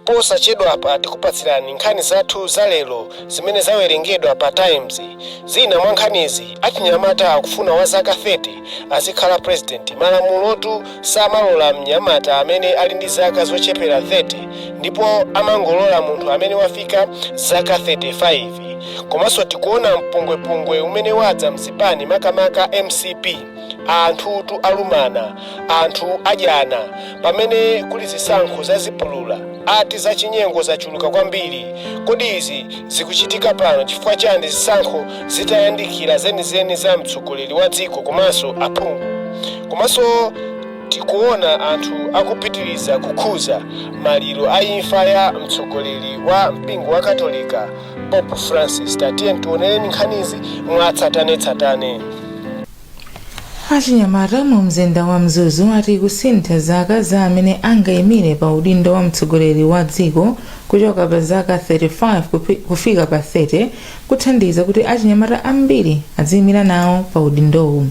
Posachedwapa tikupatsirani nkhani zathu za lero zimene zawerengedwa pa Times. Zina mwa nkhanizi, Achinyamata akufuna wa zaka 30 azikhala president, malamulotu samalola mnyamata amene ali ndi zaka zochepera 30 ndipo amangolola munthu amene wafika zaka 35. Komanso tikuona mpungwepungwe umene wadza m'zipani makamaka MCP. anthutu alumana anthu adyana pamene kuli zisankho za chipulula ati zachinyengo zachuluka kwambiri kodi izi zikuchitika pano chifukwa chiyani zisankho zitayandikira zenizeni za mtsogoleri wa dziko komanso aphungu komanso tikuona anthu akupitiriza kukhuza maliro a imfa ya mtsogoleri wa mpingo wa katolika Pope Francis. Tatiyeni tionereni nkhanizi mwatsatanetsatane. achinyamata mu mzinda wa mzuzu ati kusintha zaka za amene angayimire pa udindo wa mtsogoleri wa dziko kuchoka pa zaka 35 kupi- kufika pa 30 kuthandiza kuti achinyamata ambiri aziyimira nawo pa udindowu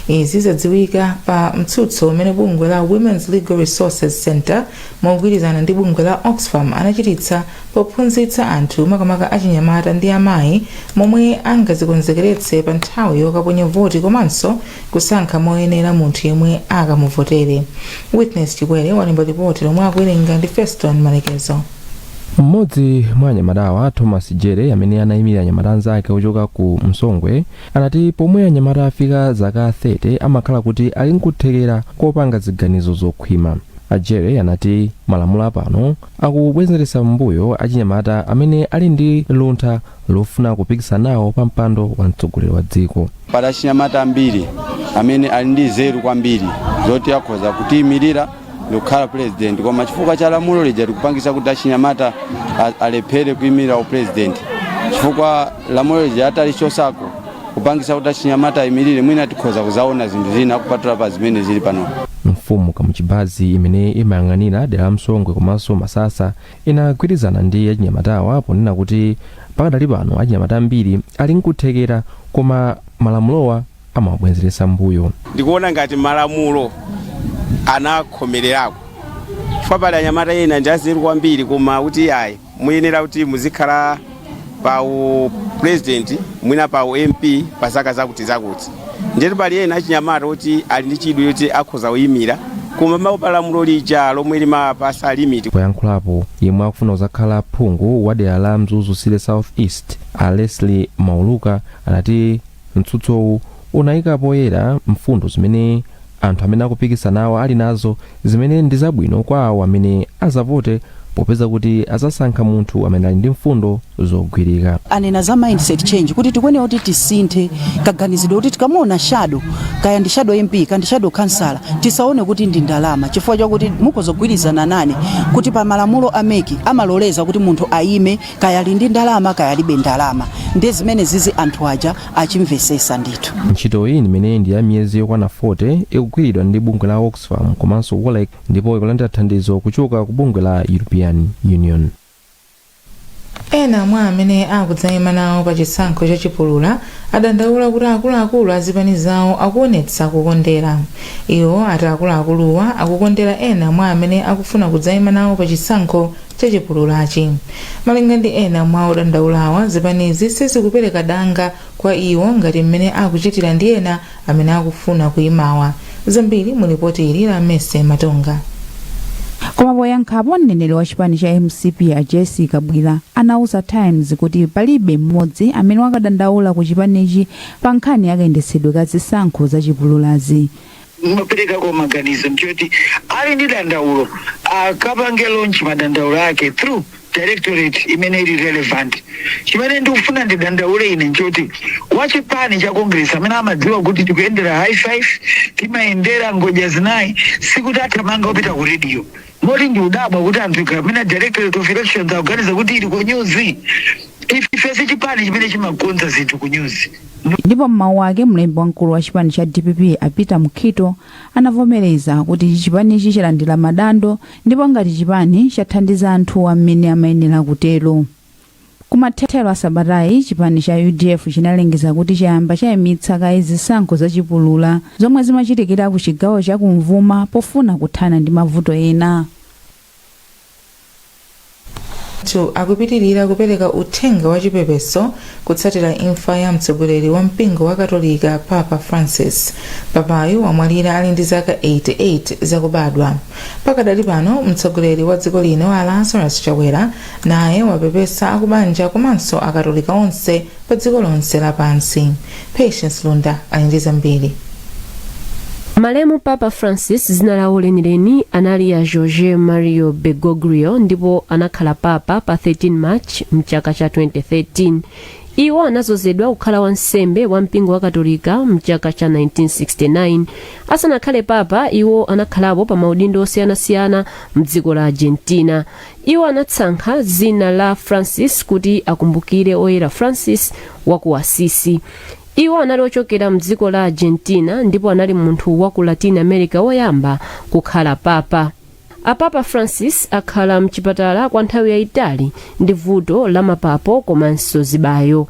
izi zadziwika pa mtsutso umene bungwe la women's legal resources center mogwirizana ndi bungwe la oxfam anachititsa pophunzitsa anthu makamaka achinyamata ndi amayi momwe angadzikonzekeretse pa nthawi yokaponya voti komanso kusankha moyenera munthu yemwe akamuvotere witness chikwere walemba lipoti lomwe akuwerenga ndi feston malekezo mmodzi mwa anyamatawa thomas jere amene anayimira anyamata anzake ochoka ku msongwe anati pomwe anyamata afika zaka 30 amakhala kuti ali nkuthekera kopanga ziganizo zokhwima a Jere anati malamulo apano akubwenzeretsa m'mbuyo achinyamata amene ali ndi luntha lofuna kupikisana nawo pa mpando wa mtsogoleri wa dziko. Pali achinyamata ambiri amene ali ndi nzeru kwambiri zoti akhoza kutiyimirira ndikukhala pulezidenti, koma chifukwa cha lamulo lija likupangisa kuti achinyamata a- alephere kuyimirira upulezidenti chifukwa lamulo lija atalichosako kupangisa kuti achinyamata ayimirire mwina tikhoza kuzaona zinthu zina kupatula pa zimene zili pano mfumu kamuchibazi imene imayang'anira dera la msongwe komanso masasa inagwirizana ndi achinyamatawa ponena kuti pakadali pano achinyamata ambiri ali nkuthekera koma malamulowa amawabwenzeretsa mbuyo ndikuona ngati malamulo anakhomererako chifukwa pali anyamata ena ndi anzeru kwambiri koma kuti ayi muyenera kuti muzikhala pa u president mwina pa u mp pa zaka zakuti zakuti ndetu pali ena achinyamata oti ali ndi chidwi choti akhoza kuyimira koma amaopa lamulo lija lomwe limapasa limiti poyankhulapo yemwe akufuna kuzakhala phungu wa dera la mzuzu city south east a leslie mauluka anati Mtsutsowu unaika poyera mfundo zimene anthu amene akupikisana nawo ali nazo zimene ndi zabwino kwa awo amene azavote popeza kuti azasankha munthu amene ali ndi mfundo zogwirika. Anena za mindset change kuti tikuenera kuti tisinthe kaganizidwe kuti tikamuona shadow kaya ndi shadow MP ka ndi shadow khansala tisaone kuti ndi ndalama chifukwa chakuti mukhoza kugwirizana nane kuti pa malamulo a mec amaloleza kuti munthu ayime kaya ali ndi ndalama kaya alibe ndalama ndiye zimene zizi anthu aja achimvesesa ndithu ntchitoyi imene ndi ya miyezi yokwana 40 ikugwiridwa ndi bungwe la oxfam komanso wolrec ndipo ikulandira thandizo kuchoka ku bungwe la european union ena mwa amene akudzaima nawo pa chisankho cha chipulura adandaula kuti akuluakulu azipani zawo akuonetsa kukondera iwo ati akuluakuluwa akukondera ena mwa amene akufuna kudzaima nawo pa chisankho cha chipululachi. Malinga ndi ena mwa odandaulawa, zipanizi sizikupereka danga kwa iwo ngati mmene akuchitira ndi ena amene akufuna kuimawa. Zambiri mu lipoti ili la Mercy Matonga. Koma poyankhapo, mneneri wa chipani cha mcp a Jessie Kabwila anauza Times kuti palibe mmodzi amene wakadandaula ku chipanichi pa nkhani yakayendetsedwe ka zisankho za chipululazi. Ndimaperekako maganizo nchoti ali ndi dandaulo akapange lodge madandaulo ake through directorate imene ili relevant. Chimene ndikufuna ndidandaule ine nchoti wachipani cha Congress amene amadziwa kuti tikuyendera high five, timayendera ngodya zinayi, sikuti athamanga kupita ku radio. Moti ndikudabwa kuti anthu akamanena directorate of elections akuganiza kuti ili ku news? Ife si chipani chimene chimakonza zinthu ku news. Ndipo m'mawu ake, mlembi wamkulu wa chipani cha dpp a Peter Mukhito anavomereza kuti chipanichi chalandira madando ndipo ngati chipani chathandiza anthuwa mmene amayenera kutero. Kumathero a sabatayi, chipani cha udf chinalengeza kuti chayamba chaimitsa kaye zisankho za chipulura zomwe zimachitikira ku chigawo cha kumvuma pofuna kuthana ndi mavuto ena. Anthu akupitirira kupereka uthenga wa chipepeso kutsatira imfa ya mtsogoleri wa mpingo wa katolika papa francis papayu wamwalira ali ndi zaka 88 zakubadwa pakadali pano mtsogoleri wa dziko lino a lazarus chakwera Naye wapepesa akubanja komanso akatolika onse pa dziko lonse la pansi. Patience Lunda ali ndi zambiri. Malemu Papa Francis dzina lawo lenileni anali a Jorge Mario Bergoglio ndipo anakhala papa pa 13 March mchaka cha 2013. Iwo anazozedwa kukhala wansembe wa mpingo wa Katolika mchaka cha 1969. Asanakhale papa, iwo anakhalapo pa maudindo osiyanasiyana mdziko la Argentina. Iwo anatsankha dzina la Francis kuti akumbukire Oyera Francis wa ku Assisi. Iwo anali ochokera m'dziko la Argentina ndipo anali munthu wa ku Latin America woyamba kukhala papa. Apapa Francis akhala m'chipatala kwa nthawi yayitali ndi vuto la mapapo komanso zibayo.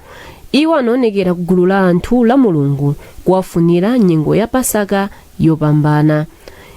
Iwo anaonekera ku gulu la anthu Lamulungu kuwafunira nyengo ya Pasaka yopambana.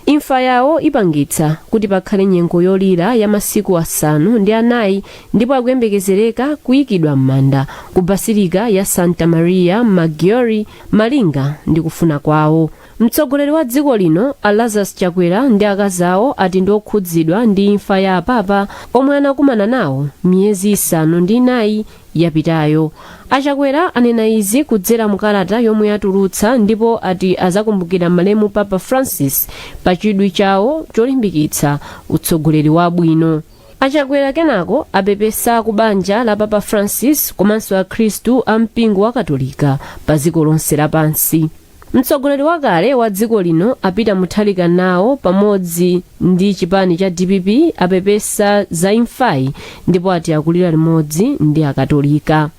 Imfa yawo ipangitsa kuti pakhale nyengo yolira ya masiku asanu ndi anayi ndipo akuyembekezereka kuikidwa m'manda ku Basilica ya Santa Maria Maggiore malinga ndi kufuna kwawo. Mtsogoleri wa dziko lino a Lazarus Chakwera ndi akazi awo ati ndi okhudzidwa ndi imfa ya apapa omwe anakumana nawo miyezi isanu ndi inayi yapitayo. A Chakwera anena izi kudzera mu kalata yomwe atulutsa ndipo ati azakumbukira malemu Papa Francis pa chidwi chawo cholimbikitsa utsogoleri wabwino. A Chakwera kenako apepesa ku banja la Papa Francis komanso akhristu a mpingo wa Katolika pa dziko lonse lapansi. Mtsogoleri wakale wa dziko lino a Peter Mutharika nawo pamodzi ndi chipani cha dpp apepesa za imfayi ndipo ati akulira limodzi ndi akatolika.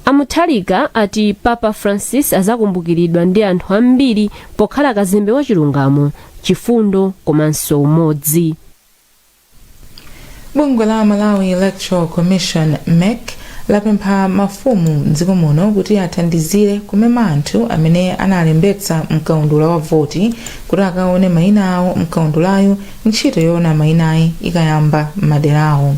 A Mutharika ati Papa Francis azakumbukiridwa ndi anthu ambiri pokhala kazembe wa chilungamo, chifundo komanso umodzi. bungwe la malawi electoral commission mec lapempha mafumu mdziko muno kuti athandizire kumema anthu amene analembetsa mkaundula wa voti kuti akaone mayina awo mkaundulayu ntchito yoona mayinayi ikayamba m'madera awo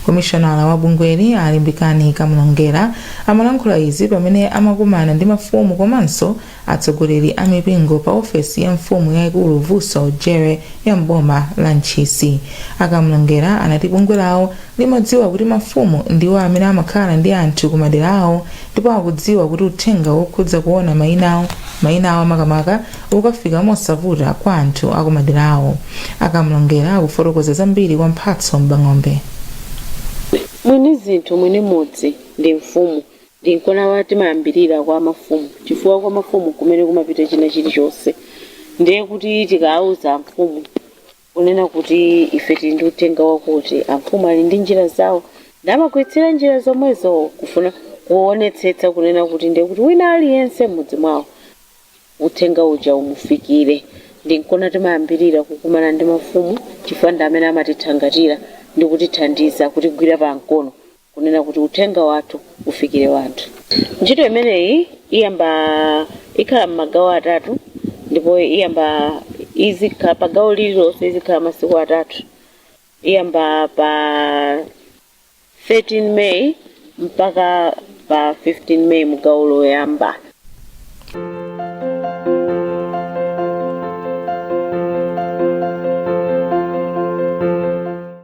komishonala wa bungweli a limbikani kamlongera amalankhula izi pamene amakumana ndi mafumu komanso Atsogoleri a mipingo pa ofesi ya mfumu yaikulu Vuso Jere ya m'boma la Ntchisi, a Kamlongera anati bungwe lawo limadziwa kuti mafumu ndiwo amene amakhala ndi anthu ku madera awo ndipo akudziwa kuti uthenga wokhudza kuona mainawo, mainawa makamaka, ukafika mosavuta kwa anthu a ku maderawo. A Kamlongera akufotokoza zambiri kwa Mphatso M'bang'ombe. Mwini zinthu, mwini mudzi ndi mfumu. Ndi nkona timayambirira kwa mafumu chifukwa kwa mafumu nkumene kumapita china chilichonse ndiye kuti tikauza amfumu kunena kuti ife tili ndi uthenga wakuti amfumu ali ndi njira zawo ndi amagwiritsira njira zomwezo kufuna kuonetsetsa kunena kuti ndiye kuti wina aliyense m'mudzi mwawo uthenga uja umufikire. Ndi nkona timayambirira kukumana ndi mafumu chifukwa ndi amene amatithangatira ndi kutithandiza, kutigwira pankono. kunena kuti uthenga wathu ufikire wanthu. Ntchito imeneyi iyamba ikhala mmagawo atatu ndipo iyamba izikhala pa gawo lililonse izikhala masiku atatu iyamba pa 13 May mpaka pa 15 May mu gawo loyamba.